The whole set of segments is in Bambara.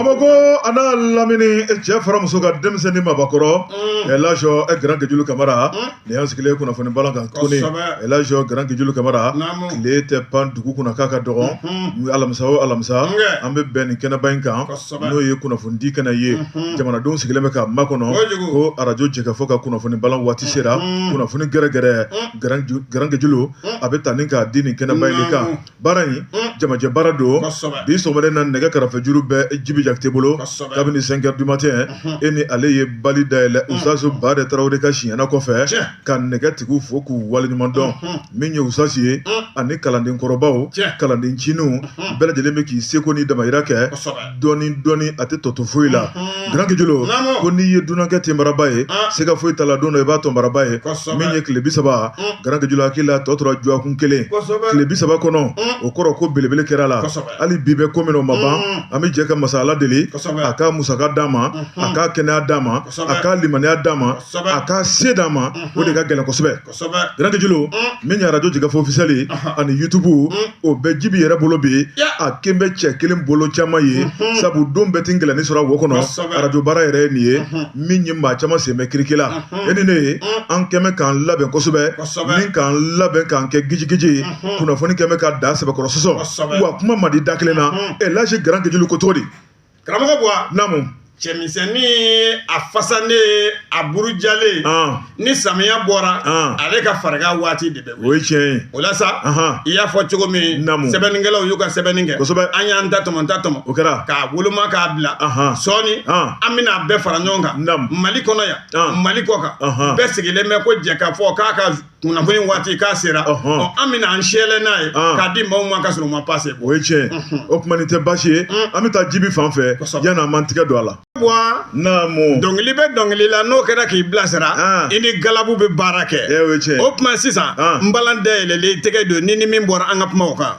Bamakɔ a n'a lamini cɛ fara muso ka denmisɛn ni maabakɔrɔ ɛlaji garan gejulu kamara nin y'an sigilen kunnafoni balan kan tuguni ɛlaji garan gejulu kamara tile tɛ pan dugu kunna k'a ka dɔgɔn alamisa o alamisa an bɛ bɛn nin kɛnɛba in kan n'o ye kunnafonidi kɛnɛ ye jamanadenw sigilen bɛ ka makɔnɔ ko arajo jɛkafɔ ka kunnafoni balan waati sera kunnafoni gɛrɛgɛrɛ garan gejulu a bɛ ta ni k'a di nin kɛnɛba in de kan baara in jamajɛ baara don bi sɔgɔmada na nɛgɛ karafejuru bɛ jibi jakite bolo kabini cinq heures du matin e ni ale ye bali dayɛlɛ usasi bade tarawele ka siɲɛna kɔfɛ ka nɛgɛtigiw fo k'u waleɲuman dɔn min ye usasi ye ani kalanden kɔrɔbaw kalanden ncininw bɛɛ lajɛlen bɛ k'i seko ni damayira kɛ dɔɔni dɔɔni a tɛ tɔ to foyi la mhm. garan gejulu ko n'i ye dunankɛ tenbaraba ye ah. siga foyi t'a la don dɔ i b'a tɔnbaraba ye min ye tile bi saba mm. garan gejulu hakili l'a tɔ tora dɔgɔkun kelen tile bi saba kɔnɔ mm. o kɔrɔ ko belebele kɛra la hali bi bɛ ko min o ma ban mm. an bɛ jɛ ka masa ala deli a ka musaka d'a ma a mhm. ka kɛnɛya d'a ma a ka limaniya d'a ma a ka se d'a ma o de ka gɛlɛn kosɛbɛ Garan gejulu min ye arajo jɛkafɔ ofisiyɛli ani yutubu o bɛ jibi yɛrɛ bolo bi a kɛlen bɛ cɛ kelen bolo caman ye sabu don bɛɛ tɛ gɛlɛnni sɔrɔ wo kɔnɔ arajo baara yɛrɛ ye nin ye min ye maa caman senmɛ kirikila e ni ne ye an kɛmɛ k'an labɛn kosɛbɛ ni k'an labɛn k'an kɛ gijigiji ye kunnafoni kɛmɛ ka da sɛbɛkɔrɔ sɔsɔ wa kuma man di da kelen na ɛlaji garan gejulu ko cogo di karamɔgɔ buwa namu cɛmisɛnnin a fasanen a burujalen ni samiya bɔra ale ka fariga waati de bɛ o ye tiɲɛ ye o la sa i y'a fɔ cogo min namu sɛbɛnnikɛlaw y'u ka sɛbɛnni kɛ kosɛbɛ an y'an ta tɔmɔ ta tɔmɔ o kɛra k'a woloma k'a bila sɔɔni an bɛna a bɛɛ fara ɲɔgɔn kan namu mali kɔnɔ yan mali kɔ kan bɛɛ sigilen bɛ ko jɛkafɔ k'a ka kunnafoni waati k'a sera an bɛna an sɛlɛ n'a ye k'a di maaw ma ka sɔrɔ u ma pase o ye tiɲɛ o tuma nin tɛ baasi ye an bɛ taa jibi fan fɛ yanni an m'an tigɛ don a la buwa naamu dɔnkili bɛ dɔnkili la n'o kɛra k'i bilasira i ni galabu bɛ baara kɛ o ye tiɲɛ o tuma sisan n balan dayɛlɛlen tɛgɛ don ni ni min bɔra an ka kumaw kan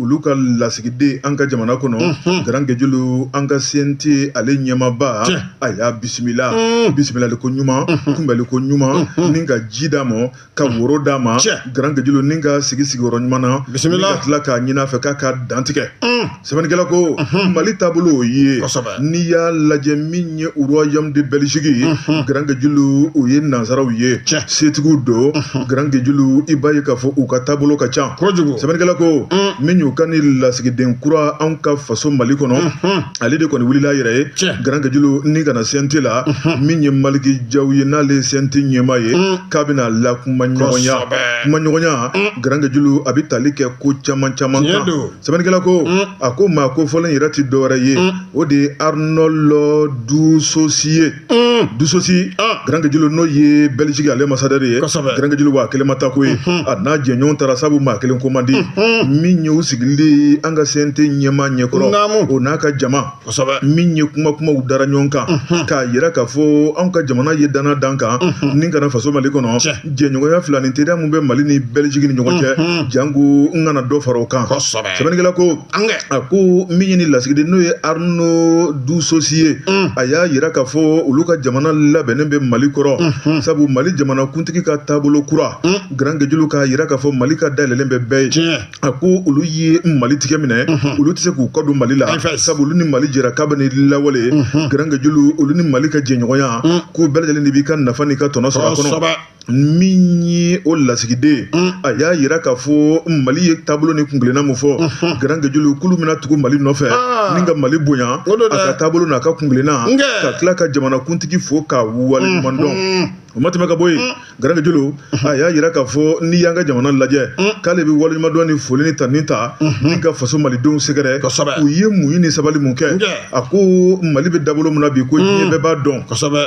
olu ka lasigiden an ka jamana kɔnɔ mhm. garan gejulu an ka CNT ale ɲɛmaba a y'a bisimila mhm. bisimilali ko ɲuman mhm. kunbɛli ko ɲuman ni ka ji d'a ma ka woro d'a ma garan gejulu ni k'a sigi sigiyɔrɔ ɲuman na ka tila k'a ɲin'a fɛ k'a ka dantigɛ sɛbɛnnikɛla ko mali taabolo o ye n'i y'a lajɛ min ye royaume de Belgique ye unhun garan gejulu o ye nansaraw ye Tiɲɛ. setigiw don garan gejulu i b'a ye k'a fɔ u ka taabolo ka ca kojugu sɛbɛnnikɛla ko min y'u ka ni lasigiden kura anw ka faso mali kɔnɔ ale de kɔni wulila a yɛrɛ ye Tiɲɛ. garan gejulu ni ka na CNT la min ye maliki jaw ye n'ale ye CNT ɲɛmaa ye k'a bɛna lakumaɲɔgɔnya Kosɛbɛ. kumaɲɔgɔnya garan gejulu a bɛ tali kɛ ko caman caman Tiɲɛ kan don. sɛbɛnnikɛla ko mm. a ko maa ko fɔlɔ in yɛrɛ tɛ dɔwɛrɛ ye mm. o de ye arnɔlɔ dusosi ye mm. dusosi ah. garankejulu n'o ye bɛliziki ale masadɛri ye garankejulu wa kelen ma taa ko ye mm-hmm. a n'a jɛɲɔgɔn taara sabu maa kelen ko man di mm-hmm. min ye u sigilen an ka CNT ɲɛmaa ɲɛkɔrɔ o n'a ka jama min ye kuma kumaw dara ɲɔgɔn kan k'a yira k'a fɔ anw ka jamana ye danna da n kan ni ka na faso mali kɔnɔ jɛɲɔgɔnya filaninteriya min bɛ mali ni bɛliziki ni ɲɔgɔn cɛ janko n ka na dɔ fara o kan sɛbɛnnikɛla ko a ko min ye ni lasigiden n'o ye arno dusosi ye a y'a yira k'a fɔ olu ka jamana labɛnnen bɛ mali kɔrɔ sabu mali jamana kuntigi ka taabolo kura garankejulu k'a yira k'a fɔ mali ka da yɛlɛnlen bɛ bɛɛ ye a ko olu ye mali tigɛ minɛ olu tɛ se k'u kɔ don mali la sabu olu ni mali jɛra kabini lawale garankejulu olu ni mali ka jɛɲɔgɔnya k'u bɛɛ lajɛlen de b'i ka nafa n'i ka tɔnɔ sɔrɔ a kɔnɔ min ye o lasigiden a y'a yira k'a fɔ mali ye taabolo ni kuntilenna min fɔ garankejulu k'olu bɛna tugu mali nɔfɛ ni ka mali bonya a ka taabolo n'a ka kuntilenna ka tila ka jamanakuntigi fo k'a waleɲumandɔn o ma tɛmɛ ka bɔ yen mm. garankejulu mm-hmm. a y'a yira k'a fɔ n'i y'an ka jamana lajɛ mm. k'ale bɛ waleɲumandɔn ni foli ni tanuni ta mm-hmm. ni ka faso malidenw sɛgɛrɛ u ye muɲu ni sabali mun kɛ a ko mali bɛ dabolo min na bi ko diɲɛ mm. bɛɛ b'a dɔn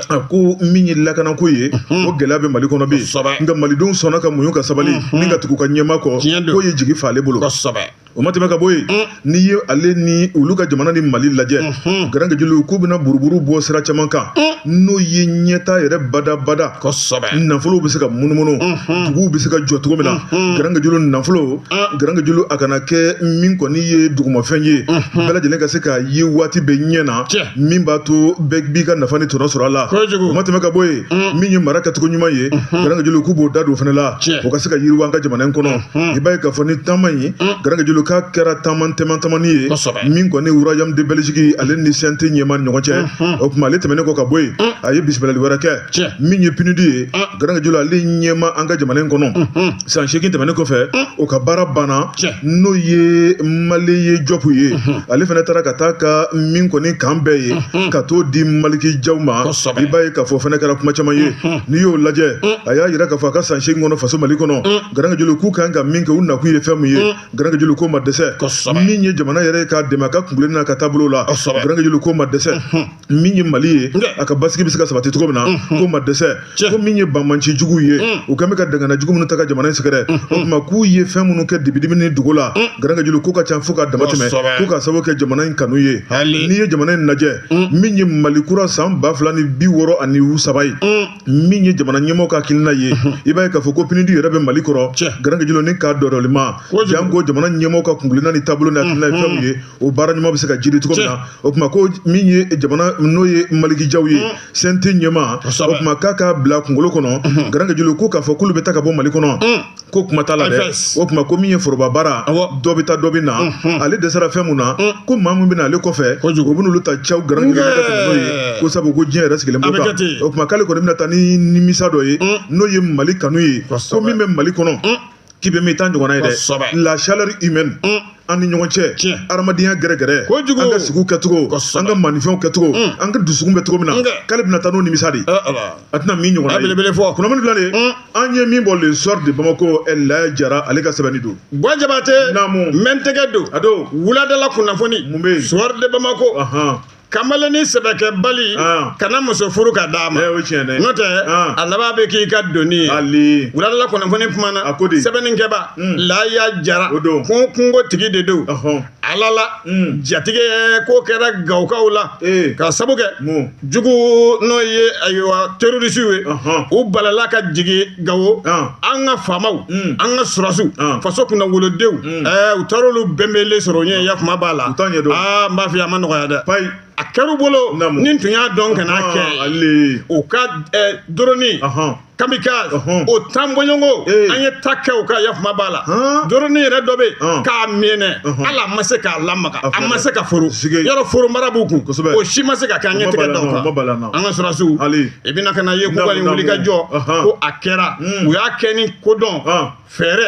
a ko min ye lakanako ye mm-hmm. ko gɛlɛya bɛ mali kɔnɔ bi nka malidenw sɔnna ka muɲu ka sabali ni ka tugu u ka ɲɛmaa kɔ k'o ye jigi fa ale bolo o ma tɛmɛ ka bɔ yen n'i ye ale ni olu ka jamana ni mali lajɛ garankejulu k'u bɛna buruburu bɔ sira caman kan n'o ye ɲɛtaa yɛrɛ badabada nafolow bɛ se ka munumunu duguw bɛ se ka jɔ cogo min na garankejulu nafolo garankejulu a kana kɛ min kɔni ye dugumafɛn ye bɛɛ lajɛlen ka se k'a ye waati bɛ ɲɛ na min b'a to bɛɛ b'i ka nafa ni tɔnɔ sɔrɔ a la o ma tɛmɛ ka bɔ yen min ye mara kɛcogo ɲuman ye garankejulu k'u b'o da don o fana la o ka se ka yiriwa an ka jamana in kɔnɔ i b'a ye k'a fɔ ni taama in garankejulu k'a kɛra taama tɛmɛn tamani ye min kɔni royaume de belgique ale ni CNT ɲɛmaa ɲɔgɔn cɛ o tuma ale tɛmɛnen kɔ ka bɔ yen a ye bisimilali wɛrɛ kɛ min ye PNUD ye garankejulu ale ɲɛmaa an ka jamana in kɔnɔ san seegin tɛmɛnen kɔfɛ o ka baara banna n'o ye maleye jɔpu ye ale fana taara ka taa ka min kɔni k'an bɛn ye ka t'o di maliki jaw ma i b'a ye k'a fɔ fana kɛra kuma caman ye n'i y'o lajɛ a y'a yira k'a fɔ a ka san seegin kɔnɔ faso mali kɔnɔ Garankejulu k'u ka kan ka min kɛ u nakun ye fɛn min ye mm. garankejulu k'o ma dɛsɛ min ye jamana yɛrɛ k'a dɛmɛ a ka kuntilenna n'a ka taabolo la garankejulu k'o ma dɛsɛ mm-hmm. min ye mali ye a ka basigi bɛ se ka sabati cogo min na mm-hmm. k'o ma dɛsɛ ko min ye banbaanci jugu ye mm. u kɛlen bɛ ka dangana jugu minnu ta ka jamana in sɛgɛrɛ mm-hmm. o tuma k'u ye fɛn minnu kɛ dibidimi ni dugu la mm. garankejulu k'o ka ca fo ka damatɛmɛ ko ka sababu kɛ jamana in kanu ye n'i ye jamana in lajɛ min ye mali kura san ba fila ni bi wɔɔrɔ ani saba ye min ye jamana ɲɛmɔgɔ ka hakilina ye i b'a ye k'a fɔ ko pnud yɛrɛ bɛ mali kɔrɔ garankejilo ni k'a dɔdɔlima janko jamana ɲɛmɔgɔ ka kuntilenna ni taabolo ni hakilina ye fɛn min ye o baara ɲuman bɛ se ka jiri cogo min na o tuma ko min ye jamana n'o ye maliki jaw ye cnt ɲɛmaa o tuma k'a k'a bila kunkolo kɔnɔ garankejilo ko k'a fɔ k'olu bɛ taa ka bɔ mali kɔnɔ ko kuma t'a la dɛ o tuma ko min ye foroba baara dɔ bɛ taa dɔ bɛ na ale dɛsɛra fɛn mun na ko maa min bɛ na ale kɔfɛ o bɛ n'olu ta cɛw garan n'o ye ko sabu ko diɲɛ yɛrɛ sigilen b'o kan o tuma k'ale kɔni bɛna taa ni nimisa dɔ ye n'o ye mali kanu ye ko min bɛ mali kɔnɔ k'i bɛ mɛn i t'a ɲɔgɔnna ye dɛ la chaleur humaine an ni ɲɔgɔn cɛ tiɲɛ adamadenya gɛrɛgɛrɛ kojugu an ka sigiw kɛcogo an ka manifɛnw kɛcogo mm. an ka dusukun bɛ cogo min na k'ale bɛna taa n'o nimisa de a tɛna min ɲɔgɔn ye belebele fɔ kunnafoni fila de mm. an ye min bɔ le soir de bamako laya jara ale ka sɛbɛnni don bɔn jabatɛ naamu mɛntɛgɛ don a don wuladala kunnafoni mun bɛ yen soir de bamako kamalennin sɛbɛkɛbali kana muso furu ka d'a ma n'o tɛ a laban bɛ k'i ka doni ye wuladala kunnafoni kumana sɛbɛnnikɛba hmm. laya jara ko kungo tigi de don ala la hmm. jatigɛ ko kɛra gawokaw la ka sabu kɛ jugu n'o ye ayiwa terorisiw ye u balala ka jigin gawo an ka faamaw hmm. an ka sɔrɔdasiw faso kunnawolodenw u taara olu bɛnbɛnnen sɔrɔ u ɲɛ yafama b'a la aa n b'a fɔ a ma nɔgɔya dɛ a kɛra bolo ni tun y'a dɔn kana kɛ u ka drone kamikaze o tan bɔɲɔgɔnko an ye ta kɛ u kan yafama b'a la drone yɛrɛ dɔ bɛ ka mɛnɛ ala ma se k'a lamaga a ma se ka foro yɔrɔ foro mara b'u kun kosɛbɛ o si ma se ka kɛ an ye tɛgɛ d'a kan an ka sɔrɔdasiw i bɛna ka na ye k'u ka wuli ka jɔ ko a kɛra u y'a kɛ ni kodɔn fɛɛrɛ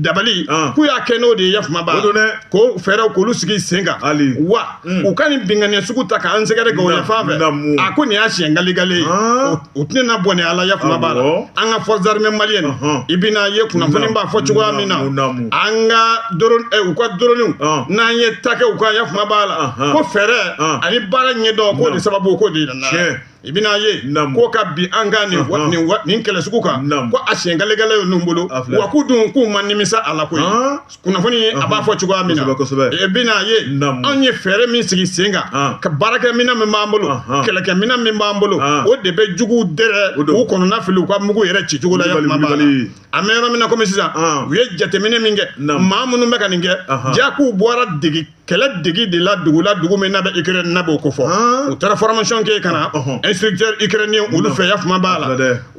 dabali k'u y'a kɛ n'o de ye yafama b'a la ko fɛɛrɛw k'olu sigi sen kan wa u ka nin binkanniya sugu ta k'an sɛgɛrɛ gawo yan fan fɛ a ko nin y'a siɲɛ galegale ye u tɛna bɔnɛ ala yafama b'a la an ka forces armées maliennes i bɛna ye kunnafoni b'a fɔ cogoya min na an ka u ka droniw n'an ye ta kɛ u kan yafama b'a la ko fɛɛrɛ ani baara ɲɛdɔn k'o de sababu k'o de nana i bɛna ye ko ka bin an kan nin nin kɛlɛ sugu kan ko a siɲɛ galegale ye ninnu bolo wa k'u dun k'u ma nimisa a la koyi kunnafoni ye a b'a fɔ cogoya min na i bɛna ye anw ye fɛɛrɛ min sigi sen kan ka baarakɛminɛn min b'an bolo kɛlɛkɛminɛn min b'an bolo o de bɛ juguw dɛrɛ u kɔnɔna fili u ka mugu yɛrɛ ci cogo la yafama b'a la an bɛ yɔrɔ min na komi sisan u ye jateminɛ min kɛ maa minnu bɛ ka nin kɛ jaa k'u bɔra dege kɛlɛ degi de la dugu la dugu min n'a bɛ Ukraine n'a b'o ko fɔ u taara formation kɛ ka na instructeur ukrainien olu fɛ yafama b'a la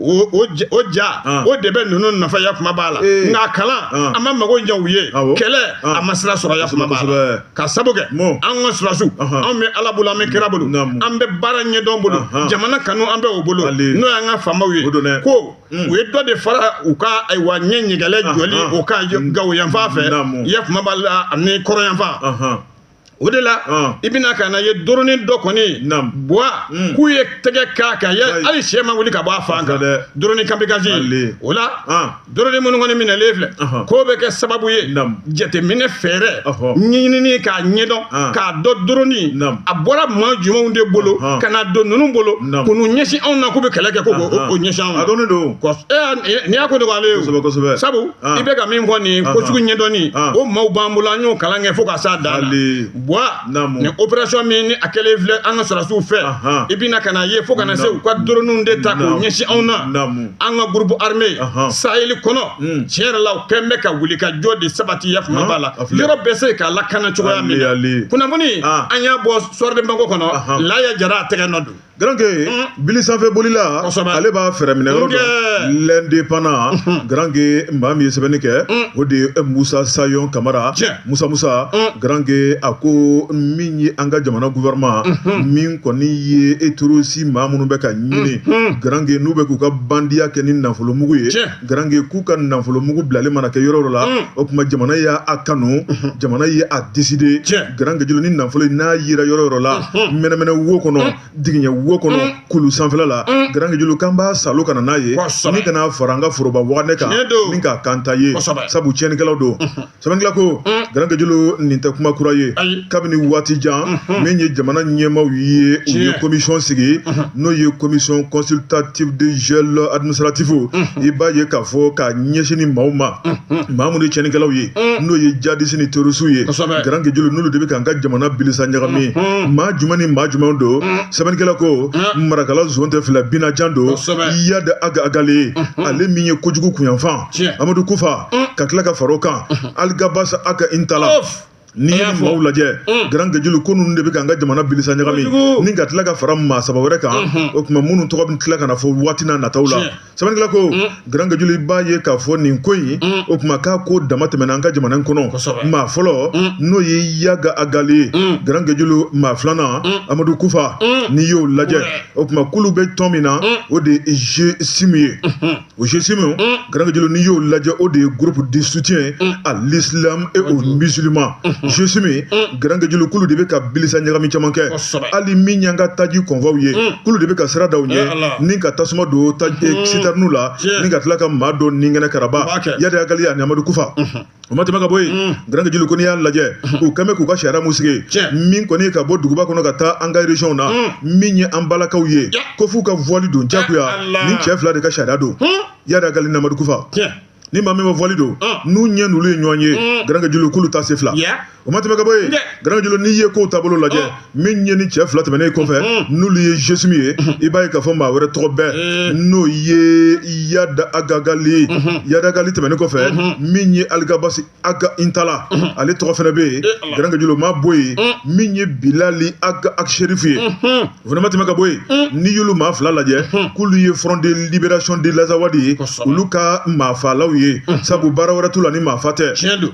o o o ja o de bɛ ninnu nafa yafama b'a la nka kalan a ma mago ɲɛ u ye kɛlɛ a ma sira sɔrɔ yafama b'a la ka sabu kɛ an ka sɔrɔdasiw anw bɛ Ala bolo an bɛ kira bolo an bɛ baara ɲɛdɔn bolo jamana kanu an bɛ o bolo n'o y'an ka faamaw ye ko Mm. u ye dɔ de fara u ka ayiwa ɲɛ ɲɛgɛlɛ ah, jɔli ah. o ka mm. gawo yanfan fɛ yafama b'a la ani kɔrɔ yanfan ah, o de la i bɛna ka na ye doronin dɔ kɔni buwa mm. k'u ye tɛgɛ k'a kan hali si ma wuli ka bɔ a fan kan doronin kamikazi o la doronin minnu kɔni minɛlen filɛ k'o bɛ kɛ sababu ye jateminɛ fɛɛrɛ ɲinini k'a ɲɛdɔn ah. k'a dɔn doronin a bɔra maa jumɛnw de bolo ah. ka na don ninnu bolo k'u n'u ɲɛsin anw na k'u bɛ kɛlɛ kɛ k'o ɲɛsin anw ma a dɔnnen don nin y'a ko dɔgɔyalen ye kosɛbɛ kosɛbɛ sabu i bɛ ka min fɔ nin ko sugu ɲɛdɔnni o maaw b'an bolo an y'o kalan kɛ fo ka s'a dan na bwa nin opération min ni a kɛlen filɛ an ka sɔrɔdasiw fɛ i bɛna ka na ye fo ka na se u ka doroninw de ta k'u ɲɛsin anw na an ka groupe armé saheli kɔnɔ hmm. tiɲɛ yɛrɛ la u kɛn bɛ ka wuli ka jɔ de sabati yafama b'a la yɔrɔ bɛ se ka lakana cogoya min na kunnafoni ah. an y'a bɔ Soir de Bamako kɔnɔ laya jara a tɛgɛ nɔ don Garanke hmm. bili sanfɛ bolila ale b'a fɛɛrɛ minɛ yɔrɔ dɔ l'indépendant Garanke maa min ye sɛbɛnni kɛ hmm. o de ye musa sayon kamara Musa Musa mm. Garanke a ko min ye an ka jamana gouvernement mm -hmm. min kɔni ye terorisi maa minnu bɛ ka ɲini mm -hmm. Garanke n'u bɛ k'u ka bandiya kɛ ni nafolomugu ye Garanke k'u ka nafolomugu bilalen mana kɛ yɔrɔ yɔrɔ la mm. o tuma jamana y'a kanu -hmm. jamana ye a décider Garanke jolo nin nafolo n'a yera yɔrɔ yɔrɔ la -hmm. mɛnɛmɛnɛ wo kɔnɔ mm. digiɲɛ wo kɔnɔ mm. kulu sanfɛla la mm. Garanke jolo k'an b'a salo ka na n'a ye ni ka na fara an ka foroba waganɛ kan ni k'a kanta ye sabu tiɲɛnikɛlaw don sɛbɛnnikɛla ko mm. Garanke jolo nin tɛ kuma kura ye kabini waati jan mm-hmm. min ye jamana ɲɛmaaw ye u ye commission sigi mm-hmm. n'o ye commission consultative de gel administratif mm-hmm. i b'a ye k'a fɔ k'a ɲɛsin nin maaw ma maa minnu ye tiɲɛnikɛlaw ye mm. n'o ye jadisi ni terorisiw ye Garanke jolo n'olu de bɛ k'an ka jamana bilisa ɲagami maa jumɛn ni maa jumɛn don mm. sɛbɛnnikɛla ko marakala zon tɛ fila binajan don yada aga agale ale min ye kojugu kunyanfan amadu kufa mm. ka tila ka fara o kan mm-hmm. aligabasi aga intala n'i ye maaw lajɛ mm. Garanke jolo ko ninnu de bɛ k'an ka jamana bilisa ɲagami ni ka tila ka fara maa saba wɛrɛ kan mm-hmm. o tuma minnu tɔgɔ bɛ tila ka na fɔ waati n'a nataw la sɛbɛnnikɛla ko mm. Garanke jolo i b'a ye k'a fɔ nin ko in mm. o tuma k'a ko dama tɛmɛna an ka jamana in kɔnɔ maa fɔlɔ n'o ye yaga agali ye Garanke jolo maa filanan amadu kufa n'i y'o lajɛ o tuma kulu bɛ tɔn min na o de ye GSIM ye mm-hmm. O jeunes min garangajlo n'i y'o lajɛ o de ye gurp de suti ye a silamɛme e o misizlima jeunes min garankejlokulu de bɛ ka bisa ɲagami caman kɛ hali min y'an ka taji kɔnfaw ye kulu de bɛ ka sirada aw ye ni ka tasuma don taji sita n'u la ni ka tila ka maa dɔn ni kɛnɛ kara ya hakili a amadukufa o ma tɛmɛ ka bɔ yen mm. Garanke Julu ko n'i y'a lajɛ u kɛn bɛ k'u ka sariya min sigi min kɔni ye ka bɔ duguba kɔnɔ ka taa an ka région na mm. min ye an balakaw ye ko f'u ka voile don jagoya nin cɛ fila de ka sariya don hmm? Iyad Ag Ghali ni Amadu Kufa ni maa min ma voile don n'u ɲɛ n'olu ye ɲɔgɔn ye hmm. Garanke Julu k'olu ta se fila o ma tɛmɛ ka bɔ yen Garanke Julu n'i ye kow taabolo lajɛ min ye nin cɛ fila tɛmɛnen kɔfɛ n'olu ye GSIM ye i b'a ye k'a fɔ maa wɛrɛ tɔgɔ bɛ yen n'o ye Iyad Ag Ghali Iyad Ag Ghali tɛmɛnen kɔfɛ min ye Alghabass Ag Intalla ale tɔgɔ fɛnɛ bɛ yen Garanke Julu ma bɔ yen min ye Bilal Ag Acherif ye o fana ma tɛmɛ ka bɔ yen hmm. n'i y'olu maa fila lajɛ hmm. k'olu ye Front de Libération de l'Azawad ye olu ka maafalaw ye hmm. sabu baara wɛrɛ t'u la ni maafa tɛ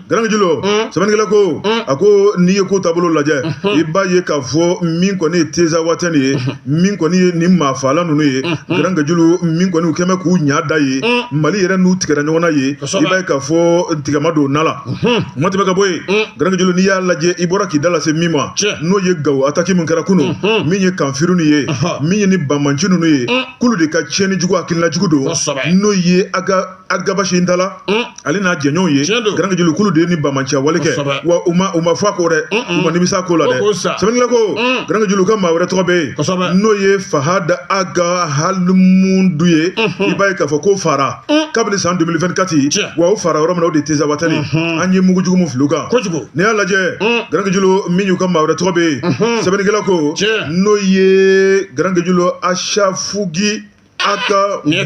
Garanke Julu sɛbɛnnikɛla ko a ko n'i ye kow taabolo lajɛ i b'a ye k'a fɔ min kɔni ye Tinzawaten ye min kɔni ye nin maafala ninnu ye Garanke Julu min kɔni u kɛmɛ k'u ɲa da ye mali yɛrɛ n'u tigɛra ɲɔgɔn na ye i b'a ye k'a fɔ tigama don na la o ma tɛmɛ ka bɔ yen Garanke Julu n'i y'a lajɛ i bɔra k'i da lase min ma n'o ye gawo ataki min kɛra kunun min ye kafiri ninnu ye min ye ni banmanci ninnu ye k'olu de ka tiɲɛni jugu hakilina jugu don n'o ye Ag Alghabass Intalla ale n'a jɛɲɔgɔnw ye Garanke Julu k'olu de ye ni banmanciya wale kɛ wa u ma u ma fɔ a ko dɛ u ma nimisa ko la dɛ sɛbɛnnikɛla ko Garanke Julu ka maa wɛrɛ tɔgɔ bɛ yen n'o ye Fahad Ag Almahmoud ye i b'a ye k'a fɔ k'o faara Mm. kabini san 2024 wa o faara yɔrɔ min na o de ye Tinzawaten mm-hmm. an ye mugujugu min fili u kan n'i y'a lajɛ mm. Garanke Julu min y'u ka maa wɛrɛ tɔgɔ bɛ yen mm-hmm. sɛbɛnnikɛla ko n'o ye Garanke Julu Asafugi Ag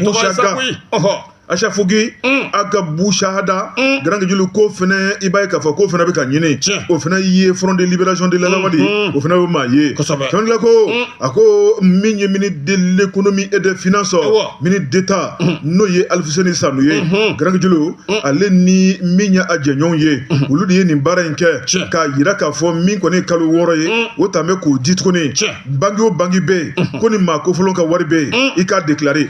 Busaga Asafugi mm. Ag Busahada mm. Garanke Julu k'o fɛnɛ i b'a ye k'a fɔ k'o fɛnɛ bɛ ka ɲini o fɛnɛ ye front de libération de l'Azawad mm-hmm. o fɛnɛ bɛ maa ye sɛbɛnnikɛla ko mm. a ko min ye ministre de l'économie et des finances ministre d'État n'o ye Alfuseni Sanu ye Garanke Julu ale ni min ye a jɛɲɔgɔnw ye olu de ye nin baara in kɛ k'a yira k'a fɔ min kɔni ye kalo wɔɔrɔ ye o tan bɛ k'o di tuguni banki o banki bɛ yen ko ni maa kofɔlen ka wari bɛ yen i k'a deklare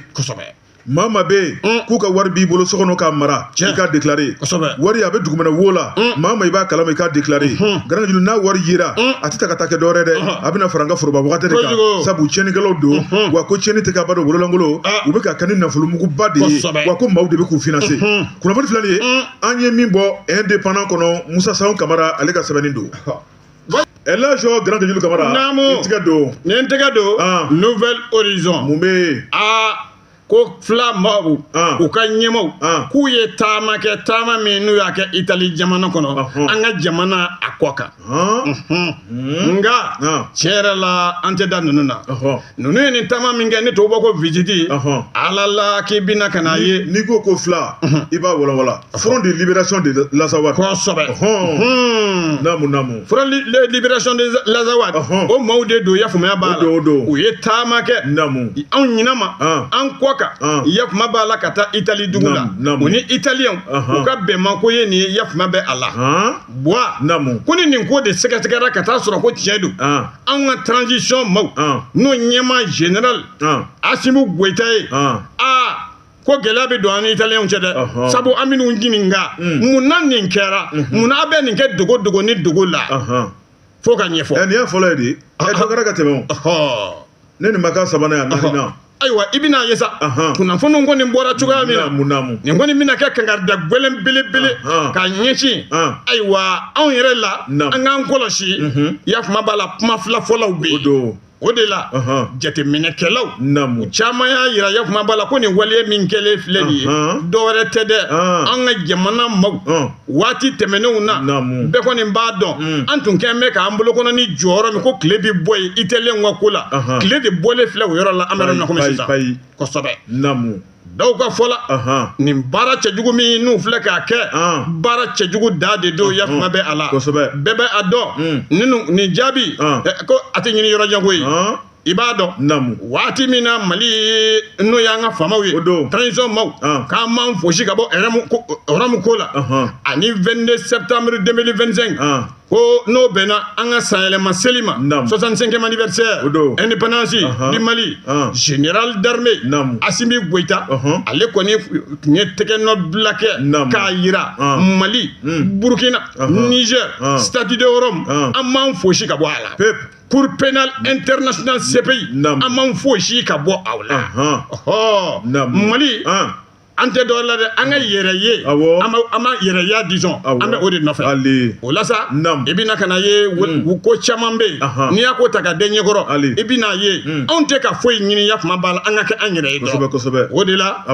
maa maa bɛ yen k'u ka wari b'i bolo so kɔnɔ k'a mara i k'a déclaré wari a bɛ dugumɛnɛ wo la mm. maa maa i b'a kalama i k'a déclaré mm-hmm. Garanke Julu n'a wari yera mm. a tɛ ta ka taa kɛ dɔwɛrɛ dɛ uh-huh. a bɛna fara an ka foroba wagati de kan sabu tiɲɛnikɛlaw don mm-hmm. wa ko tiɲɛni tɛ ka ba don bololankolon ah. u bɛ k'a kɛ ni nafolomuguba de ye wa ko maaw de bɛ k'u finanse mm-hmm. kunnafoni filɛ nin ye mm. an ye min bɔ indépendant kɔnɔ Musa Sayon Kamara ale ka sɛbɛnni don Elhadji Garanke Julu Kamara. Naamu. I tɛgɛ don. Ni n tɛgɛ don. Nouvel Horizon. Mun bɛ yen. Aa. ko FLA maaw u ka ɲɛmaw k'u ye taama kɛ taama min n'u y'a kɛ itali jamana kɔnɔ an ka jamana a kɔ kan nka tiɲɛ yɛrɛ la an tɛ da ninnu na ninnu ye nin taama min kɛ ni tubabu ko visite ala la k'i bɛna ka n'a ye n'i ko ko FLA i b'a walawala Front de libération de l'Azawad. Kosɛbɛ. Ɔhɔn. Naamu naamu. Front de libération de l'Azawad. Ɔhɔn. O maaw de don yafama b'a la. O don o don. U ye taama kɛ. Naamu. Anw ɲinɛ ma. An. An kɔ kan. An. Yafama b'a la ka taa Itali dugu la. Naamu naamu. U ni Italiyɛnw. Ɔhɔn. U ka bɛnma ko ye nin ye yafama bɛ a la. Han. Bwa. Naamu. Ko ni nin ko de sɛgɛsɛgɛra ka taa sɔrɔ ko tiɲɛ don. An. Anw ka transition maaw. An. N'o ɲɛmaa général. An. Asimi Goyita ye. An. Aa. ko gɛlɛya bɛ don an ni italiyɛnw cɛ dɛ sabu an bɛn'u ɲininka mm. mun na nin kɛra mm-hmm. mun na a bɛ nin kɛ dogo dogo ni dogo la fo k'a ɲɛfɔ. ɛ eh, nin y'a fɔlɔ ye de ɛ eh, dɔ kɛra ka tɛmɛ o ne nin ma k'a sabanan ye a naaninan. ayiwa i bɛna a ye sa kunnafoniw kɔni bɔra cogoya min na namu nin kɔni bɛna kɛ kankarida gɛlɛn belebele ka ɲɛsin ayiwa anw yɛrɛ la an k'an kɔlɔsi mm-hmm. yafama b'a la kuma fila fɔlaw bɛ yen. o de la jateminɛkɛlaw namu caman y'a yira yafama b'a la ko nin waleya min kɛlen filɛ nin ye dɔwɛrɛ tɛ dɛ an ka jamana maaw waati tɛmɛnenw na bɛɛ kɔni b'a dɔn mm. an tun kɛn bɛ k'an bolokɔnɔni jɔ yɔrɔ min ko tile bɛ bɔ yen italiyɛnw ka ko la tile de bɔlen filɛ o yɔrɔ la an bɛ yɔrɔ min na komi sisan kosɛbɛ namu dɔw ka fɔ la nin baara cɛjugu min n'u filɛ k'a kɛ baara cɛjugu dan de don yafama bɛ a la bɛɛ bɛ a dɔn hmm. nin jaabi ko a tɛ ɲini yɔrɔ jan koyi i b'a dɔn namu waati min na mali n'o y'an ka faamaw ye o don transition maaw ah. k'an m'an fosi ka bɔ Rome ko la ani 22 septembre 2025 ko n'o bɛnna an ka sanyɛlɛma seli ma 65e anniversaire indépendance du Mali général d'armée Assimi Goïta ale kɔni tun ye tɛgɛnɔ bila kɛ k'a yira Mali hmm. Burkina Niger Statut de Rome an m'an fosi ka bɔ a la Cour pénale internationale CPI an m'an fosi ka bɔ a la mali an tɛ dɔ la dɛ an ka yɛrɛ ye an ma yɛrɛya disons an bɛ o de nɔfɛ o la sa i bɛna ka n'a ye hmm. ko caman bɛ yen n'i y'a ko ta ka d'i ɲɛkɔrɔ i bɛn'a ye hmm. anw tɛ ka foyi ɲini yafama b'a la an ka kɛ an yɛrɛ ye dɔrɔn o de la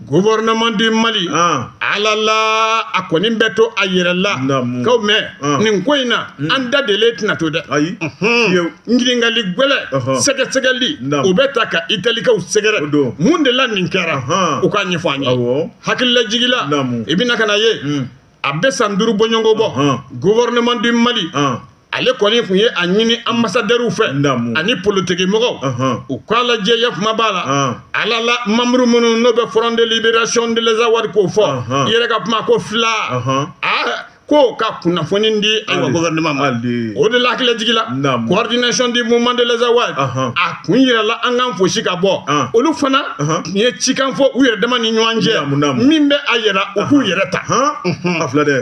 gouvernement du Mali ah. ala la a kɔni bɛ to a yɛrɛ la k'aw mɛn ah. nin ko in na hmm. an da delen tɛna to dɛ ayi Ɲininkali gɛlɛn sɛgɛsɛgɛli o bɛ taa ka italikaw sɛgɛrɛ mun de la nin kɛra u ka ɲɛfɔ an ye hakililajigila i bɛna ka na ye a bɛ san duuru bɔɲɔgɔnko bɔ gouvernement du mali ale kɔni tun ye a ɲini ambassadeurw fɛ ani politikimɔgɔw u k'a lajɛ yafama b'a la ala la membre minnu n'o bɛ Front de libération de l'Azawad k'o fɔ i yɛrɛ ka kuma ko FLA ko ka kunnafoni di an ka gouvernement ma o de la hakililajigila coordination du mouvement de l'Azawad a kun yirala an k'an fosi ka bɔ olu fana tun ye cikan fɔ u yɛrɛ dama ni ɲɔgɔn cɛ min bɛ a yira u k'u yɛrɛ ta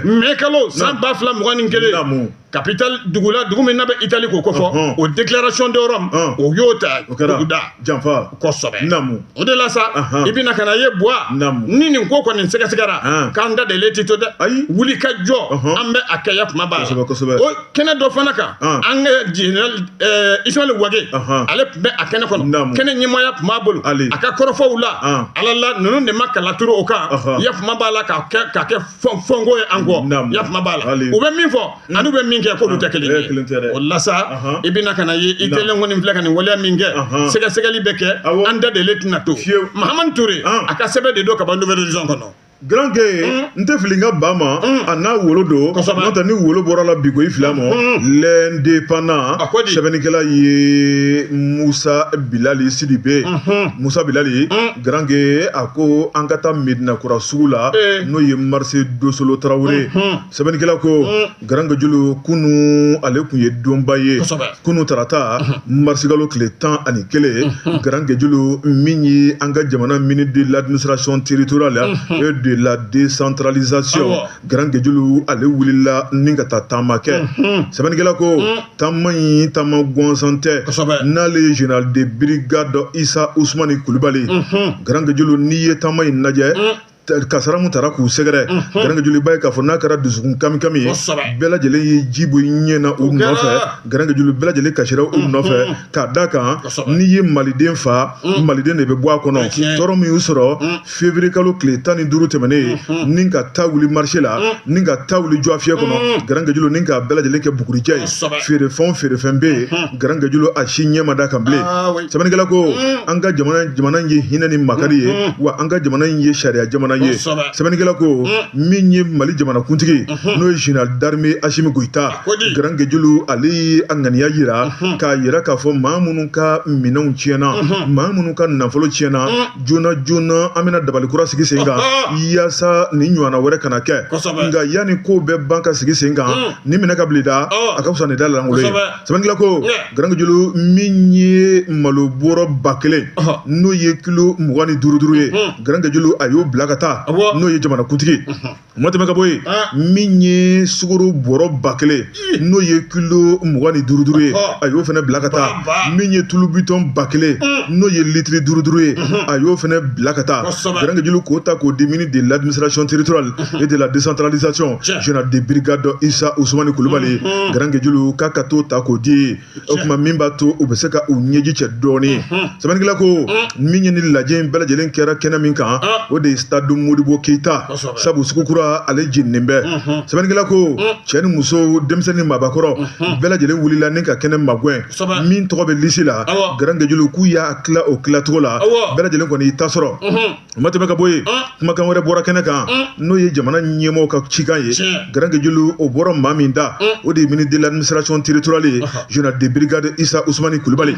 mɛ kalo san ba fila mugan ni kelen capital dugu la dugu min n'a bɛ itali k'o kofɔ o déclaration de Rome o y'o ta duguda kosɛbɛ o de la sa i bɛna ka na ye buwa ni nin ko kɔni sɛgɛsɛgɛra k'an da delen tɛ to dɛ wuli ka jɔ an bɛ a kɛ yafama b'a la o kɛnɛ dɔ fana kan an ka general Ismail Wage ale tun bɛ a kɛnɛ kɔnɔ kɛnɛ ɲɛmaaya tun b'a bolo a ka kɔrɔfɔw la ala la ninnu de ma kala turu o kan yafama b'a la k'a kɛ fɔnko ye an kɔ yafama b'a la u bɛ min fɔ hmm. ani u bɛ min kɛ k'olu tɛ kelen ye o la sa i bɛna ka na ye Italien kɔni filɛ ka nin waleya min kɛ sɛgɛsɛgɛli bɛ kɛ an da delen tɛna to mahamani ture a ka sɛbɛn de don ka ban Nouvel Horizon kɔnɔ garanke hmm. n tɛ fili n ka ba ma hmm. a n'a wolo don n'o tɛ ni wolo bɔr'a la bi ko i fil'a ma l'indépendant sɛbɛnnikɛla ye musa bilali sidibe musa bilali Garanke a ko an ka taa medinakura sugu la n'o ye marché dosolo tarawele sɛbɛnnikɛla ko garankejulu kunun ale tun ye donba ye kunun tarata marisikalo tile tan ani kelen garankejulu min ye an ka jamana ministre de l'administration territoriale et de la décentralisation garankejulu ale wulila ni ka taa taama kɛ sɛbɛnnikɛla ko taama in taama gɔnsan tɛ n'ale ye general de brigade isa usumani kulubali garankejulu n'i ye taama in lajɛ kasaara min taara k'u sɛgɛrɛ garankejulu i b'a ye k'a fɔ n'a kɛra dusukun kamikami ye bɛɛ lajɛlen ye ji bɔ i ɲɛ na u nɔfɛ garankejulu bɛɛ lajɛlen kasira u nɔfɛ k'a da kan n'i ye maliden fa mm. maliden de bɛ bɔ a kɔnɔ tɔɔrɔ min y'u sɔrɔ mm. fevrier kalo tile tan ni duuru tɛmɛnen in mm-hmm. ni ka ta wuli marché la mm. ni ka ta wuli jɔgɔfiyɛ kɔnɔ garankejulu ni ka bɛɛ lajɛlen kɛ bugurijɛ ye feerefɛn o feerefɛn bɛ yen mm-hmm. garankejulu a si ɲɛ ma d'a kan bilen ah, sɛbɛnnikɛla ko an ka jamana jamana in ye hinɛ ni makari ye mm-hmm. wa an ka jamana in ye sariya jamana ye sɛbɛnnikɛla ko min ye mali jamanakuntigi n'o ye général d'armée asimi goyita garankejulu ale ye a ŋaniya yira k'a yira k'a fɔ maa minnu ka minɛnw tiɲɛna maa minnu ka nafolo tiɲɛna joona joona an bɛna dabali kura sigi sen kan yaasa nin ɲɔgɔnna wɛrɛ kana kɛ nka yanni kow bɛɛ ban ka sigi sen kan ni minɛ ka bili da a ka fisa ni da lankolon ye sɛbɛnnikɛla ko garankejulu min ye malo bɔrɔ ba kelen n'o ye kilo mugan ni duuru duuru ye garankejulu a y'o bila ka taa n'o ye jamanakuntigi o ma tɛmɛ ka bɔ yen ah. min ye sukoro bɔrɔ ba kelen n'o ye kilo mugan ni duuru duuru ye ah. a y'o fana bila ka taa min ye tulu bitɔn ba kelen mm. n'o ye litiri duuru duuru ye mm-hmm. a y'o fana bila ka taa garankejulu k'o ta k'o di ministre de l'administration territoriale mm-hmm. et de la décentralisation général de brigade isa usumani kulubali mm-hmm. garankejulu k'a ka t'o ta k'o di o tuma min b'a to u bɛ se ka u ɲɛji cɛ dɔɔnin sɛbɛnnikɛla ko min ye nin lajɛ in bɛɛ lajɛlen kɛra kɛnɛ min kan o de ye stade modibo keyita Kosɛbɛ. sabu sugu kura ale jeninen bɛ sɛbɛnnikɛla ko cɛ ni muso denmisɛnnin ni maabakɔrɔ bɛɛ lajɛlen wulila ni ka kɛnɛ magɛn Kosɛbɛ. min tɔgɔ bɛ lisi la Awɔ. garankejulu k'u y'a tila o tilacogo la Awɔ. bɛɛ lajɛlen kɔni y'i ta sɔrɔ o ma tɛmɛ ka bɔ yen kumakan wɛrɛ bɔra kɛnɛ kan n'o ye jamana ɲɛmɔgɔ ka cikan ye garankejulu o bɔra maa min da o de ye ministre de l'administration territoriale ye général de brigade isa usumani kulubali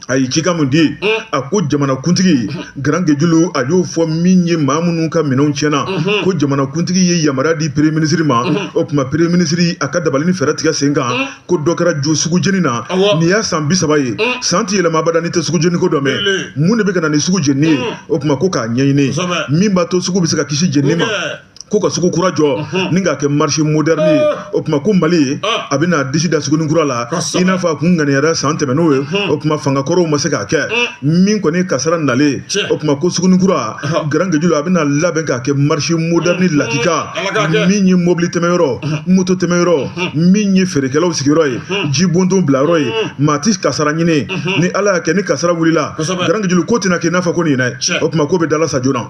a ye cikan mun di a ko jamana kuntigi garankejulu a y'o fɔ min ye maa minnu ka minɛnw tiɲɛna ko jamana kuntigi ye yamaruya di premier ministre ma o tuma premier ministre a ka dabali ni fɛɛrɛ tigɛ sen kan ko dɔ kɛra jo sugu jeni na nin y'a san bi saba ye mm. san ti yɛlɛma abada n'i tɛ sugu jeni ko dɔ mɛn mun de bɛ ka na ni sugu jeni ye mm. o tuma ko k'a ɲɛɲini min b'a to sugu bɛ se ka kisi jeni ma ko ka sugu kura jɔ mhm. ni k'a kɛ marché moderne ye ah. o tuma ko mali ah. a bɛna disi da suguni kura la i n'a fɔ a kun ŋaniyara san tɛmɛn'o ye mhm. o tuma fanga kɔrɔw ma se k'a kɛ mm. min kɔni kasara nalen o tuma ko suguni kura garankejulu a bɛna labɛn k'a kɛ marché moderne mm. lakika min ye mobili tɛmɛyɔrɔ moto tɛmɛyɔrɔ min ye feerekɛlaw sigiyɔrɔ ye jibondon bilayɔrɔ ye maa ti kasara ɲini ni ala y'a kɛ ni kasara wulila garankejulu k'o tɛna k'i n'a fɔ ko nin dɛ o tuma k'o bɛ dala sa joona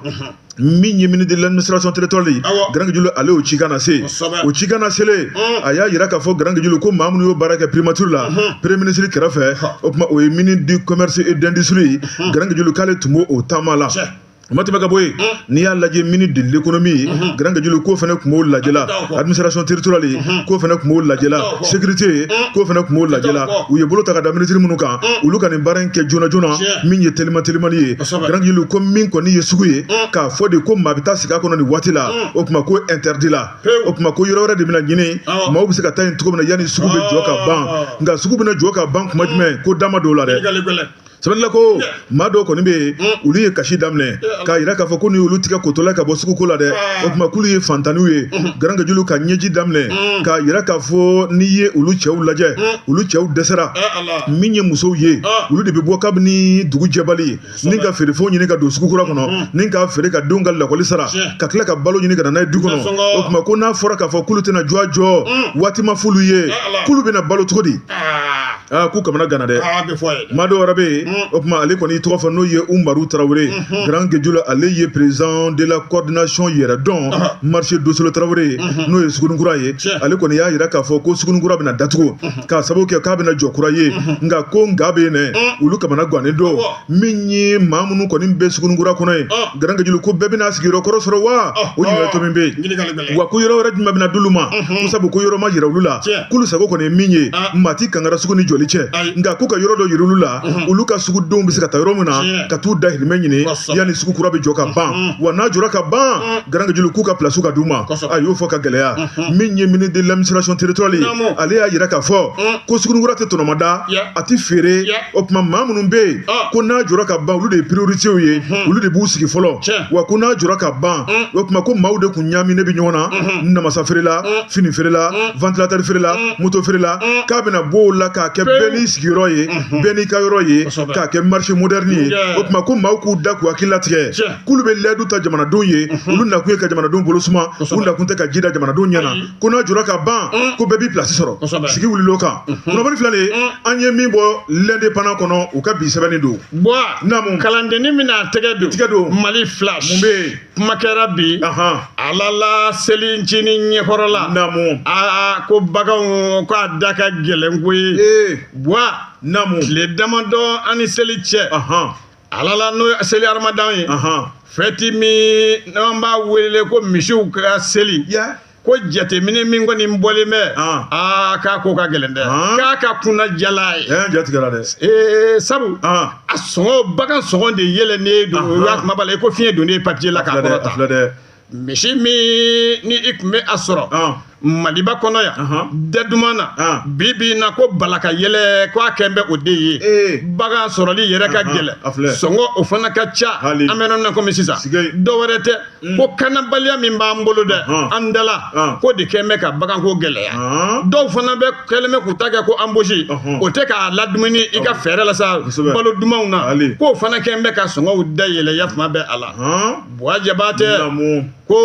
min ye ministre de l'administration territoriale garankejulu ale y'o cikan nase o cikan naselen a y'a yira k'a fɔ garankejulu ko maa minnu y'o baara kɛ primature la premier ministre kɛrɛfɛ o tuma o ye ministre du commerce et d'industrie garankejulu k'ale tun b'o o taama la o ma tɛmɛ ka bɔ yen n'i y'a lajɛ ministre de l'économie ye garankejulu k'o fana tun b'o lajɛ la administration territoriale ye k'o fana tun b'o lajɛ la sécurité ye k'o fana tun b'o lajɛ la u ye bolo ta ka da minisiri minnu kan olu ka nin baara in kɛ joona joona min ye telima telimani ye garankejulu ko min kɔni ye sugu ye k'a fɔ de ko maa bɛ taa sigi a kɔnɔ nin waati la o tuma k'o interdit la o tuma ko yɔrɔ wɛrɛ de bɛna ɲini maaw bɛ se ka taa yen cogo min na yanni sugu bɛ jɔ ka ban nka sugu bɛna jɔ ka ban tuma jumɛn k'u da ma don o la dɛ sɛbɛnnikɛla ko maa dɔw kɔni bɛ yen mm. olu ye kasi daminɛ k'a yira k'a fɔ ko ni olu tigɛ kotola ka bɔ suguko la dɛ ah. o tuma k'olu ye fantanniw ye mm-hmm. garankajulu ka ɲɛji daminɛ mm. k'a yira k'a fɔ n'i ye olu cɛw lajɛ mm. olu cɛw dɛsɛra eh, min ye musow ye ah. olu de bɛ bɔ kabini dugu jɛbali ni ka feerefɛnw ɲini ka don sugukura kɔnɔ ni ka feere ka denw ka lakɔli sara ka tila ka balo ɲini ka na n'a ye du kɔnɔ o tuma ko n'a fɔra k'a fɔ k'olu tɛna jɔ a jɔ waati ma f'olu ye eh, k'olu bɛna balo cogo di ah. aa k'u kamana ganna dɛ aa bɛ fɔ a ye dɛ. maa dɔ wɛrɛ bɛ yen Mm. o tuma ale kɔni y'i tɔgɔ fɔ n'o ye umaru tarawele Mhm. grand gejula ale ye président de la coordination yɛrɛ don Aha. marché dosolo tarawele Mhm. n'o ye sugunikura ye Tiɲɛ. ale kɔni y'a jira k'a fɔ ko sugunikura bɛna datugu k'a sababu kɛ k'a bɛna jɔ kura ye nka ko nka bɛ yen dɛ olu kamana gannen don Awɔ. min ye maa minnu kɔni bɛ sugunikura kɔnɔ ye ah. garankajulu ko bɛɛ bɛna sigiyɔrɔ kɔrɔ sɔrɔ wa ah. o ɲininkali tomi bɛ yen wa ko yɔrɔ wɛrɛ jumɛn bɛna d'olu ma ko sabu ko yɔrɔ ma yira olu la k'olu sago kɔni ye min ye ah. maa ti kangara sugu ni jɔli cɛ nka k'u ka yɔrɔ dɔ yira olu la olu ka sugudenw bɛ se ka taa yɔrɔ min na ka t'u dahirimɛ ɲini yanni sugu kura bɛ jɔ ka ban wa n'a jɔra ka ban garankajulu k'u ka pilasiw ka d'u ma a y'o fɔ ka gɛlɛya min ye ministre de l'administration territoriale ye ale y'a jira k'a fɔ ko sugunikura tɛ tɔnɔmada a tɛ feere o tuma maa minnu bɛ yen ah. ko n'a jɔra ka ban olu de ye prioritew ye mhm. olu de b'u sigi fɔlɔ wa ko n'a jɔra ka ban mm. o tuma ko maaw de kun ɲaaminen bɛ ɲɔgɔn na mhm. namasa feerela mm. fini feerela mm. ventilateur feerela moto feerela k'a bɛna bɔ o la k'a kɛ bɛɛ n'i sigiyɔrɔ ye mhm. bɛɛ n'i ka yɔrɔ ye k'a kɛ marché moderne ye o tuma ko maaw k'u da k'u hakili latigɛ k'olu bɛ layidu ta jamanadenw ye olu nakun ye ka jamanadenw bolo suma u nakun tɛ ka ji da jamanadenw ɲɛ na ko n'a jɔra ka ban mm. ko bɛɛ b'i pilasi sɔrɔ sigi wulil'o kan mm-hmm. kunnafoni fila de mm. an ye min bɔ l'indépendant kɔnɔ u ka bi sɛbɛnni don namu kalandeni bɛna tɛgɛ don tɛgɛ don mali flash mun bɛ yen kuma kɛra bi ala la selincinin ɲɛkɔrɔla namu aa ko baganw ko a da ka gɛlɛn koyi bwa namu tile damadɔ an ni seli cɛ ala la n'o ye seli aramadan ye fɛti min n'an b'a wele ko misiw ka seli ko jateminɛ min kɔni bɔlen bɛ aa k'a ko ka gɛlɛn dɛ k'a ka kunan jala ye jatigɛra dɛ ee sabu a sɔngɔ bagan sɔngɔ de yɛlɛnnen don o y'a kuma b'a la i ko fiɲɛ donnen papiye la k'a kɔrɔta Misi min ni i tun bɛ a sɔrɔ maliba kɔnɔ yan da duman na bi bi na ko bala ka yɛlɛn ko a kɛlen bɛ o de ye bagan sɔrɔli yɛrɛ ka gɛlɛn sɔngɔ o fana ka ca an bɛ na kɔmi sisan dɔ wɛrɛ tɛ mm. ko kanabaliya min b'an bolo dɛ an dala k'o de kɛlen bɛ ka baganko gɛlɛya dɔw fana bɛ kɛlen bɛ k'u ta kɛ ko embouche o tɛ k'a ladumuni i ka fɛɛrɛ la sa balo dumanw na k'o fana kɛlen bɛ ka sɔngɔw da yɛlɛn ya tuma bɛ a la buwa jabatɛ ko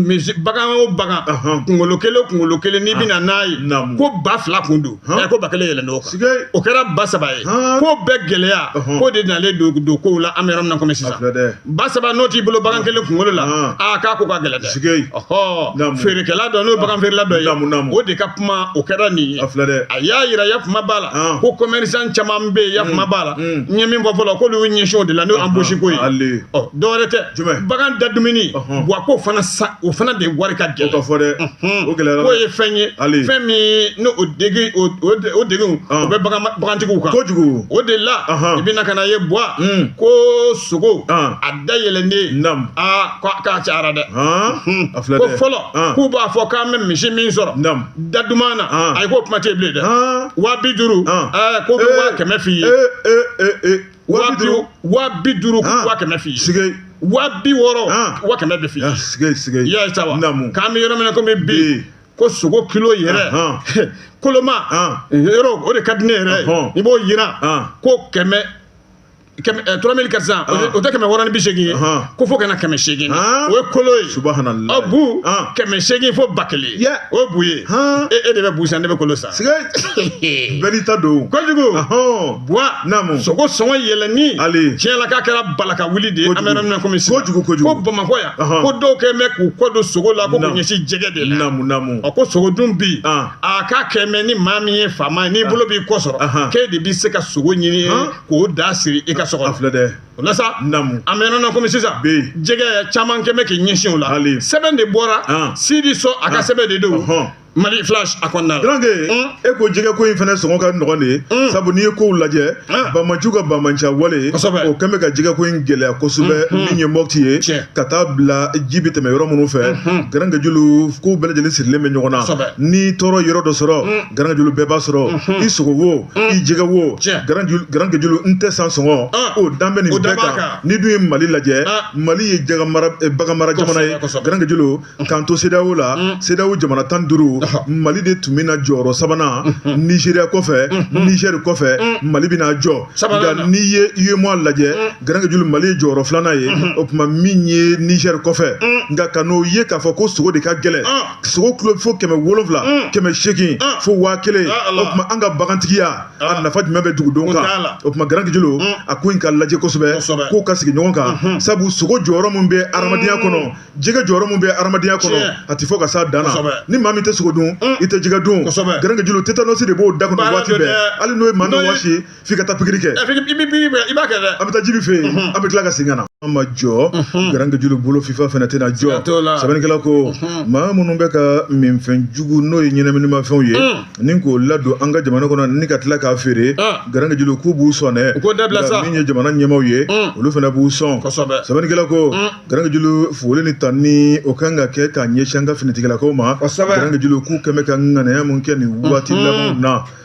misi bagan o bagan kunkolo kelen o kunkolo kelen n'i bɛna n'a ye ko ba fila kun don ɛ ko ba kelen yɛlɛnn'o kan o kɛra ba saba ye ko bɛɛ gɛlɛya ko de nalen don don kow la an bɛ yɔrɔ min na komi sisan ba saba n'o t'i bolo bagan kelen kunkolo la aa k'a ko ka gɛlɛn dɛ ɔhɔ feerekɛla dɔ n'o bagan feerela dɔ ye o de ka kuma o kɛra nin ye a y'a yira yafuma b'a la ko commerçant caman bɛ yen yafuma b'a la Mm. n ye min fɔ fɔlɔ k'olu y'u ɲɛsin o de la n'o embouche ko ye ale ɔ dɔwɛrɛ tɛ Jumɛn? bagan da dumuni Ɔhɔn. buwa k'o fana sa o fana de wari ka o ka gɛlɛn fɔ dɛ Unhun. o gɛlɛyara k'o ye fɛn ye Ale. fɛn min ni o degun o o de- o degun o Ɔn. bɛ bagan bagantigiw kan kojugu o de la Ɔhɔn. i bɛna ka n'a ye buwa Mm. ko sogo Ɔn. a da yɛlɛnnen Nam. aa k'a k'a cayara dɛ Han? a filɛ ko dɛ fɔlɔ Han. k'u b'a fɔ k'an bɛ misi min sɔrɔ Nam. da duman na ah. ayi k'o kuma tɛ bilen dɛ ah. waa bi duuru ah. eh, ko ko eh. waa kɛmɛ f'i ye eh, waa bi duuru waa bi duuru ko waa kɛmɛ f'i ye sige waa bi wɔɔrɔ waa kɛmɛ bɛ f'i ye sige sige i y'a ye sa wa k'an bɛ yɔrɔ min na komi bi ko sogo kilo yɛrɛ koloma yɔrɔ o de ka di ne yɛrɛ ye i b'o yira ko kɛmɛ trois mille quatre cents o tɛ kɛmɛ wɔɔrɔ ni bi seegin ye ko fo ka na kɛmɛ seegin o ye kolo ye a bu kɛmɛ seegin fo ba kelen o bu ye e de bɛ bu san ne bɛ kolo san bɛɛ n'i ta don kojugu buwa naamu sogo sɔngɔ yɛlɛnni tiɲɛ la k'a kɛra balaka wuli de ye an bɛ yɔrɔ min na komi sisan kojugu kojugu ko bamakɔ yan ko dɔw kɛn bɛ k'u kɔ don sogo la ko k'u ɲɛsin jɛgɛ de la naamu naamu ɔ ko sogo dun bi a k'a kɛn bɛ ni maa min ye faama ye n'i bolo b'i kɔ sɔrɔ k'e de bɛ se ka sogo ɲini k'o da siri i ka so kɔnɔ. A filɛ dɛ. O la sa. Naamu. An bɛ yɔrɔ min na komi sisan. Bi. Jɛgɛ caman kɛn bɛ k'i ɲɛsin o la. Hali. Sɛbɛn de bɔra. An. Sidi Sɔ a ka sɛbɛn de don. Ɔhɔn. Mali flash a kɔnɔna la. Donc e ko jɛgɛ ko in fana sɔngɔ ka nɔgɔn de ye. Sabu n'i ye kow lajɛ. Banbaanciw ka banbaanciya wale. Kosɛbɛ. O kɛn bɛ ka jɛgɛ ko in gɛlɛya kosɛbɛ. Min ye Mopti ye. Tiɲɛ. Ka taa bila ji bɛ tɛmɛ yɔrɔ minnu fɛ. Garankejulu kow bɛɛ lajɛlen sirilen bɛ ɲɔgɔn na. Kosɛbɛ. Ni tɔɔrɔ yɔrɔ dɔ sɔrɔ. Garankejulu bɛɛ b'a sɔrɔ. I sogo wo. i jɛgɛ wo garankejulu n tɛ san sɔngɔ o dan bɛ nin bɛɛ kan n'i dun ye mali lajɛ mali ye bagan mara jamana ye garankejulu k'an to CEDEAO la CEDEAO jamana tan duuru mali de tun bɛ na jɔyɔrɔ sabanan nizeriya kɔfɛ nizeri kɔfɛ mali bɛna jɔ nka n'i ye UEMOA lajɛ garankejulu mali ye jɔyɔrɔ filanan ye o tuma min ye nizeri kɔfɛ nka ka n'o ye k'a fɔ ko sogo de ka gɛlɛn sogo kilo fo kɛmɛ wolonwula mm. kɛmɛ seegin ah. fo waa kelen ah, o tuma an ka bagantigiya a ah. nafa jumɛn bɛ dugudenw kan o tuma garankejulu mm. a ko in ka lajɛ kosɛbɛ k'o ka sigi ɲɔgɔn kan mm-hmm. sabu sogo jɔyɔrɔ min bɛ adamadenya mm. kɔnɔ jɛgɛ jɔyɔrɔ min bɛ adamadenya kɔnɔ a tɛ fɔ ka s'a dan na ni maa min tɛ sogo dun i tɛ jɛgɛ dun garankejulu tetanɔsi de b'o da kɔnɔ waati bɛɛ hali n'o ye maa min wɔsi f'i ka taa pikiri kɛ ɛ f'i ka- i b'i b'i b'i- i b'a kɛ dɛ an bɛ taa jibi fɛ yen an bɛ tila ka segin ka na an ma jɔ garankejulu bolo fifa fana tɛna jɔ Siga t'o la. sɛbɛnnikɛla ko maa minnu bɛ ka minfɛn jugu n'o ye ɲɛnaminimafɛnw ye ni k'o ladon an ka jamana kɔnɔ ni ka tila k'a feere Ah. garankejulu k'u b'u sɔn dɛ U k'o dabila Nka sa. min ye jamana ɲɛmaaw ye olu fana b'u sɔn Kosɛbɛ. sɛbɛnnikɛla ko garankejulu foli ni tanni o kan ka kɛ k'a ɲɛsin an ka finitigilakaw ma Kosɛbɛ. garankejulu k'u kɛmɛ ka ŋanaya mun kɛ nin waati labanw na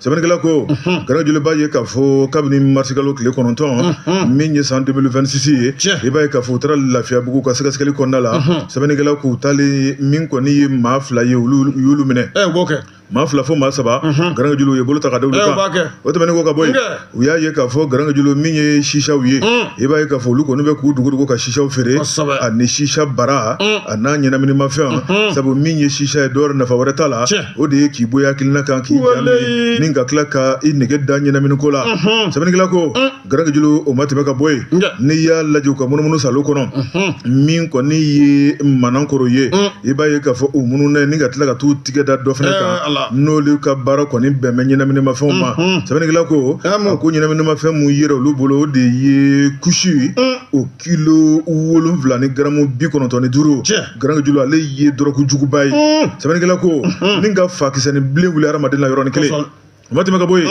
sɛbɛnnikɛla ko garankejulu b'a ye k'a fɔ kabini marisikalo tile kɔnɔntɔn min ye san 2026 ye i b'a ye k'a fɔ u taara lafiyabugu u ka sɛgɛsɛgɛli kɔnɔna la sɛbɛnnikɛla k'u taalen min kɔni ye maa fila ye olu y'olu minɛ maa fila fo maa saba garankejulu ye bolo ta ka da olu kan o tɛmɛnen kɔ ka bɔ yen u y'a ye k'a fɔ garankejulu min ye sisa ye i b'a ye k'a fɔ olu kɔni bɛ k'u dogodogo ka sisa feere ani sisa bara a n'a ɲɛnaminimafɛn sabu min ye sisa ye dɔw nafa wɛrɛ t'a la o de ye k'i bɔ i hakilina kan k'i ni ka tila ka i nege da ɲɛnamini ko la sɛbɛnnikɛla ko garankejulu o ma tɛmɛ ka bɔ yen n'i y'a lajɛ u ka munumunu salo kɔnɔ min kɔni ye manankoro ye i b'a ye k'a fɔ u mununen ni ka tila ka taa tigɛ da dɔ fana kan n'olu ka baara kɔni bɛn bɛ ɲɛnaminimafɛnw ma sɛbɛnnikɛla ko a ko ɲɛnaminimafɛn mun yera olu bolo o de ye kusi o kilo wolonwula ni garamu bi kɔnɔntɔn ni duuru garankejulu ale ye dɔrɔku juguba ye sɛbɛnnikɛla ko ni ka fa kisɛnin bilen wuli hadamaden la yɔrɔnin kelen o ma tɛmɛ ka bɔ yen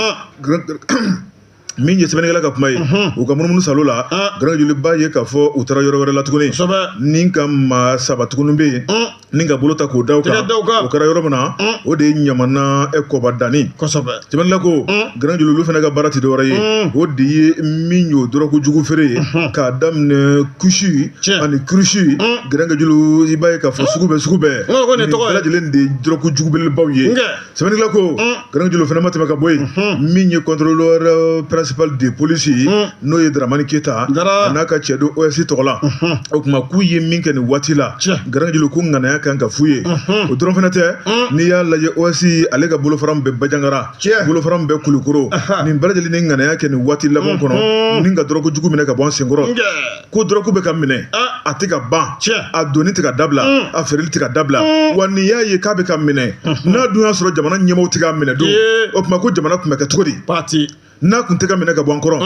min ye sɛbɛnnikɛla ka kuma ye u ka munumunu salo la garankejulu i b'a ye k'a fɔ u taara yɔrɔ wɛrɛ la tuguni ni ka maa saba tuguni bɛ yen ni ka bolo ta k'o da u kan o kɛra yɔrɔ min na o de ye ɲamana kɔba danni sɛbɛnnikɛla ko garankejulu olu fana ka baara tɛ dɔwɛrɛ ye o de ye min y'o dɔrɔku jugu feere ye k'a daminɛ kusi ani kurusi garankejulu i b'a ye k'a fɔ sugu bɛɛ sugu bɛɛ bɛɛ lajɛlen de ye dɔrɔku jugu belebelebaw ye sɛbɛnnikɛla ko garankejulu fana ma tɛmɛ ka bɔ yen min ye contrôleur euh, principal de police ye n'o ye daramani keyita a n'a ka cɛ do os tɔgɔ la o tuma k'u ye min kɛ nin waati la garankejulu ko ŋanaya kan ka f'u ye o dɔrɔn fana tɛ n'i y'a lajɛ os ale ka bolofara min bɛ bajangara bolofara min bɛ kulukoro nin bɛɛ lajɛlen ni ŋanaya kɛ nin waati laban kɔnɔ ni ka dɔrɔku jugu minɛ ka bɔ an senkɔrɔ ko dɔrɔku bɛ ka minɛ a tɛ ka ban a donni tɛ ka dabila a feereli tɛ ka dabila wa n'i y'a ye k'a bɛ ka minɛ n'a dun y'a sɔrɔ jamana ɲɛmɔgɔ tɛ k'a minɛ don o tuma ko jamana tun bɛ kɛ cogo di pati n'a tun tɛ ka minɛ ka bɔ an kɔrɔ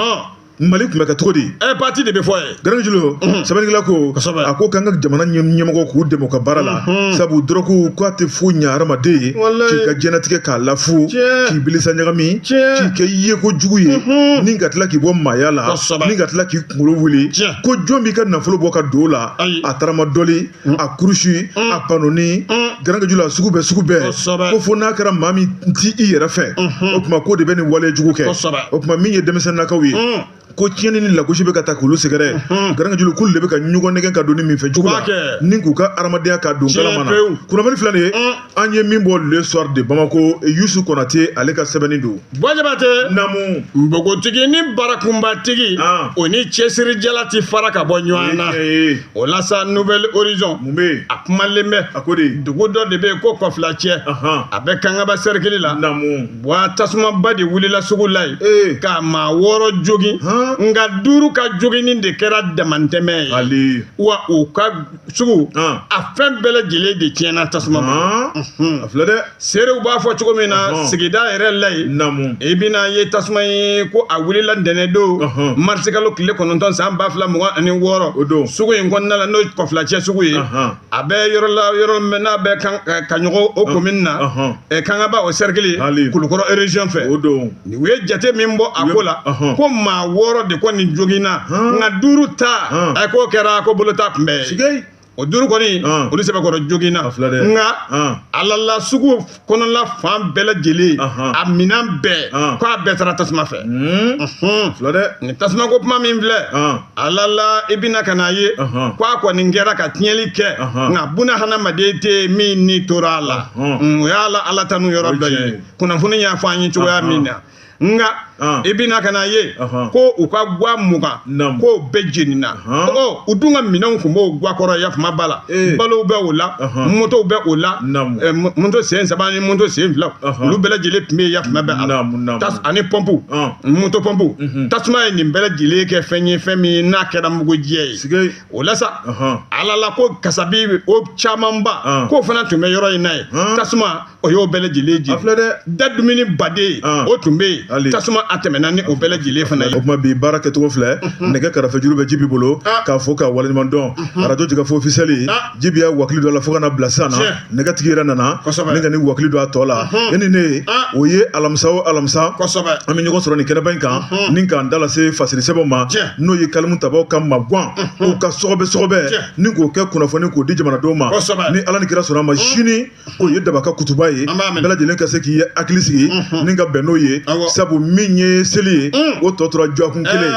mali tun bɛ kɛ cogo di ɛ pati de bɛ fɔ yen garankejulu sɛbɛnnikɛla ko a ko k'an ka jamana ɲɛmɔgɔ k'u dɛmɛ u ka baara la sabu dɔrɔku k'a tɛ foyi ɲɛ hadamaden ye k'i ka diɲɛlatigɛ k'a lafu k'i bilisa ɲagami k'i kɛ yeko jugu ye ni ka tila k'i bɔ maaya la ni ka tila k'i kunkolo wuli ko jɔn b'i ka nafolo bɔ ka don la a taramadɔli mm. a kurusi mm. a panoni mm. garankajulu a sugu bɛɛ sugu bɛɛ ko fo n'a kɛra maa min ti i yɛrɛ fɛ mm-hmm. o tuma ko de bɛ nin wale jugu kɛ o tuma min ye denmisɛnninakaw ye ko tiɲɛni ni lagosi bɛ ka taa k'olu sɛgɛrɛ mhm. garankajulu k'olu de bɛ ka ɲɔgɔn nɛgɛn ka don nin minfɛn jugu la ni k'u ka adamadenya ka don kalama na kunnafoni filɛ nin ye an ye min bɔ le soir de bamako yusu konate ale ka sɛbɛnni don bɔjabatɛ namu npogotigi ni barakunbatigi ah. o ni cɛsirijala ti fara ka bɔ ɲɔgɔn na o la sa nouvel horizon mun bɛ yen a kumalen bɛ a ko de dugu dɔ de bɛ ko kɔfilacɛ a bɛ kangaba sɛrikili la namu wa tasumaba de wulila sugu la yen eh. ka maa wɔɔrɔ jogin nka duuru ka joginni de kɛra damantɛmɛ ye wa u ka sugu a fɛn bɛɛ lajɛlen de tiɲɛna tasuma ma a filɛ dɛ seerew b'a fɔ cogo min na sigida yɛrɛ la yen namu i bɛna a ye tasuma ye ko a wulila ntɛnɛn don marisikalo tile kɔnɔntɔn san ba fila mugan ani wɔɔrɔ o don sugu in kɔnɔna la n'o ye kɔfilacɛ sugu ye a bɛ yɔrɔ la yɔrɔ min n'a bɛ kaɲɔgɔ o komin na kangaba o sɛrikili kulukɔrɔ ereziyɔn fɛ o don u ye jate min bɔ a ko la ko maa wɔɔrɔ de kɔni joginna nka duuru ta a k'o kɛra ko bolo t'a kunbɛn o duuru kɔni olu sɛbɛkɔrɔ joginna nka alala sugu kɔnɔla fan bɛɛ lajɛlen a minɛn bɛɛ ko a bɛɛ taara tasuma fɛ nin tasuma ko kuma min filɛ alala i bɛna ka n'a ye ko a kɔni kɛra ka tiɲɛli kɛ nka buna hadamaden tɛ min ni tora a la o y'a la ala tanu yɔrɔ dɔ ye kunnafoni y'a fɔ an ye cogoya min na nka ah. i bɛna ka n'a ye ko u ka gwa mugan k'o bɛɛ jenina ɔ u dun ka minɛnw tun b'o gwa kɔrɔ yafama b'a la eh. balow bɛ o la motow bɛ o la eh, moto sen saba ni moto sen fila olu bɛɛ lajɛlen tun bɛ yafama bɛ a la ani pɔmpu ah. moto pɔmpu mhm. tasuma ye nin bɛɛ lajɛlen kɛ fɛn ye fɛn min n'a kɛra mugujɛ ye o la sa alala ko kasabi o camanba ah. k'o fana tun bɛ yɔrɔ in na yen tasuma o y'o bɛɛ lajɛlen jeni. A filɛ dɛ. Da dumuni baden. An. O tun bɛ yen. Hali. Tasuma a tɛmɛna ni o bɛɛ lajɛlen fana ye. O tuma bi baara kɛcogo filɛ nɛgɛ karafe juru bɛ jibi bolo Ah. k'a fɔ k'a waleɲuman dɔn arajo jɛkafo ofisiyɛli Ah. jibi y'a wakili dɔ la fo ka na bila sisan na Tiɲɛ. nɛgɛtigi yɛrɛ nana Kosɛbɛ. ne ka ni wakili don a tɔ la e ni ne Ah. o ye alamisa o alamisa Kosɛbɛ. an bɛ ɲɔgɔn sɔrɔ nin kɛnɛba in kan ni k'an da lase fasiri sɛbɛnw ma Tiɲɛ. n'o ye kalimu tabaw ka maguwan u ka sɔgɔbɛ sɔgɔbɛ Tiɲɛ. ni k'o kɛ kunnafoni k'o di jamanadenw ma Kosɛbɛ. ni ala ni kira sɔnna a ma sini o ye daba ka kutuba ye bɛɛ lajɛlen ka se k'i hakili sigi ni ka bɛn n'o ye sabu min ye seli ye o tɔ tora dɔgɔkun kelen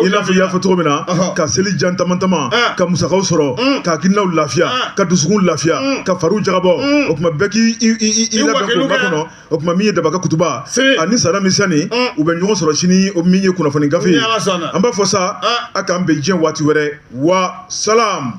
i n'a fɔ i y'a fɔ cogo min na ka seli jan taamataama ka musakaw sɔrɔ ka hakilinaw lafiya ka dusukun lafiya ka fariw jagabɔ o tuma bɛɛ k'i labɛn k'o makɔnɔ o tuma min ye daba ka kutuba ani sara misɛnni u bɛ ɲɔgɔn sɔrɔ sini o min ye kunnafoni gafe ye an b'a fɔ sa a k'an bɛn diɲɛ waati wɛrɛ wa salam